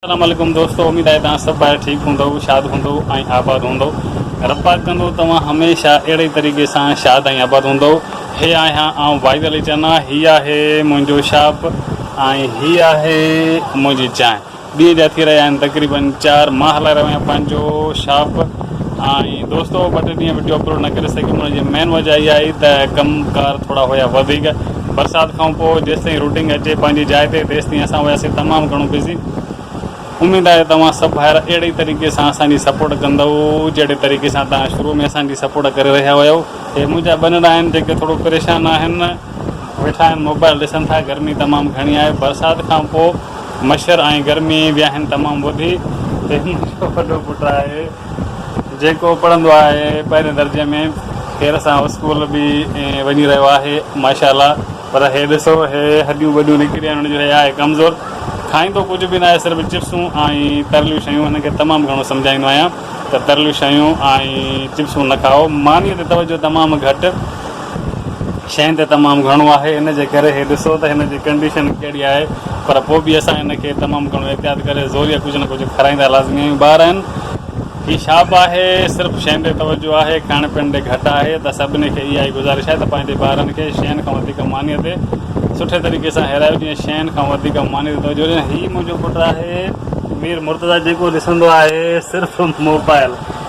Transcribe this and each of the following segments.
اسلام عليڪم دوستو اميد آهي توهان سڀ ڀائر ٺيڪ هوندؤ شاد هوندؤ ۽ آباد هوندؤ رب پاڪ ڪندو توهان هميشه اهڙي ئي طريقي سان شاد ۽ آباد هوندؤ هي آهيان آئون واحد علي چنا هي آهي منهنجو شاپ ۽ هي آهي منهنجي چانهه ڏينهن جا ٿي رهيا آهن تقريبن چار مان هلائي رهيو آهيان پنهنجو شاپ ۽ دوستو ٻه ٽي ڏينهن وڊيو اپلوڊ نه ڪري سگهيم ان جي مين وجهه اها آهي ته ڪم ڪار ٿورا هيا وڌيڪ برسات کان پوء جيستائين روٽنگ اچي پنهنجي جاء تي تيستائين اسان هياسين تمام گهڻو بزي اميد آهي توهان سڀ ڀائر اهڙي ئي طريقي سان اسان جي سپورٽ ڪندؤ جهڙي طريقي سان توهان شروع ۾ اسان جي سپورٽ ڪري رهيا هيؤ هي منهنجا ٻنڙا آهن جيڪي ٿورو پريشان آهن ويٺا آهن موبائل ڏسن ٿا گرمي تمام گهڻي آهي برسات کان پوء مڇر ۽ گرمي به آهن تمام وڌي هي منهنجو وڏو پٽ آهي جيڪو پڙهندو آهي پهرين درجي ۾ خير سان اسڪول به وڃي رهيو آهي ماشا الله پر هي ڏسو هي هڏيون ٻڏيون نڪري آهن هن جو هي آهي ڪمزور کائيندو ڪجهه به ناهي صرف چپسون ۽ ترليون شيون هن کي تمام گهڻو سمجهائيندو آهيان ته ترليون شيون ۽ چپسون نه کائو مانيء تي توجهه تمام گهٽ شين تي تمام گهڻو آهي ان جي ڪري هي ڏسو ته هن جي ڪنڊيشن ڪهڙي آهي پر پوء به اسان هن کي تمام گهڻو احتياط ڪري زوريء ڪجهه نه ڪجهه کارائيندا لازمي آهيون ٻار آهن هي شاپ آهي صرف شين تي توجهه آهي کائڻ پيئڻ تي گهٽ آهي ته سڀني کي اها ئي گذارش آهي ته پنهنجي ٻارن کي شين کان وڌيڪ مانيء تي سٺي طريقي سان هيرايو جيئن شين کان وڌيڪ ماني تي توجهه ڏين هي منهنجو پٽ آهي مير مرتضيٰ جيڪو ڏسندو آهي صرف موبائل.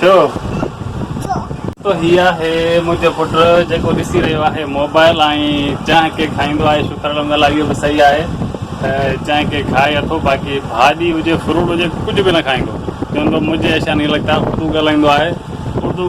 ڇو تو هي آهي منهنجو پٽ جيڪو ڏسي رهيو آهي موبائل ۽ چانهه ڪي کائيندو آهي شڪر الحمد لله اهو به صحيح آهي ته چانهه ڪي کائي اٿو باقي ڀاڄي هجي فروٽ هجي ڪجهه به نه کائيندو چوندو مجهي ايسا نهي لڳتا اردو ڳالهائيندو آهي اردو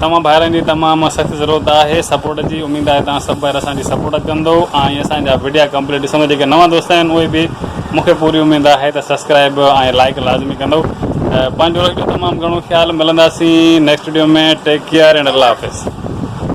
توهان ڀائرن جي تمام سخت ضرورت آهي سپورٽ جي اميد آهي توهان سڀ ڀائر اسان جي سپورٽ ڪندو ۽ اسان جا وڊيا ڪمپليٽ ڏسندو جيڪي نوان دوست آهن اهي به مونکي پوري اميد آهي ته سبسڪرائب ۽ لائڪ لازمي ڪندو پنهنجو رکجو تمام گهڻو خيال ملنداسين next video ۾ take care and الله حافظ.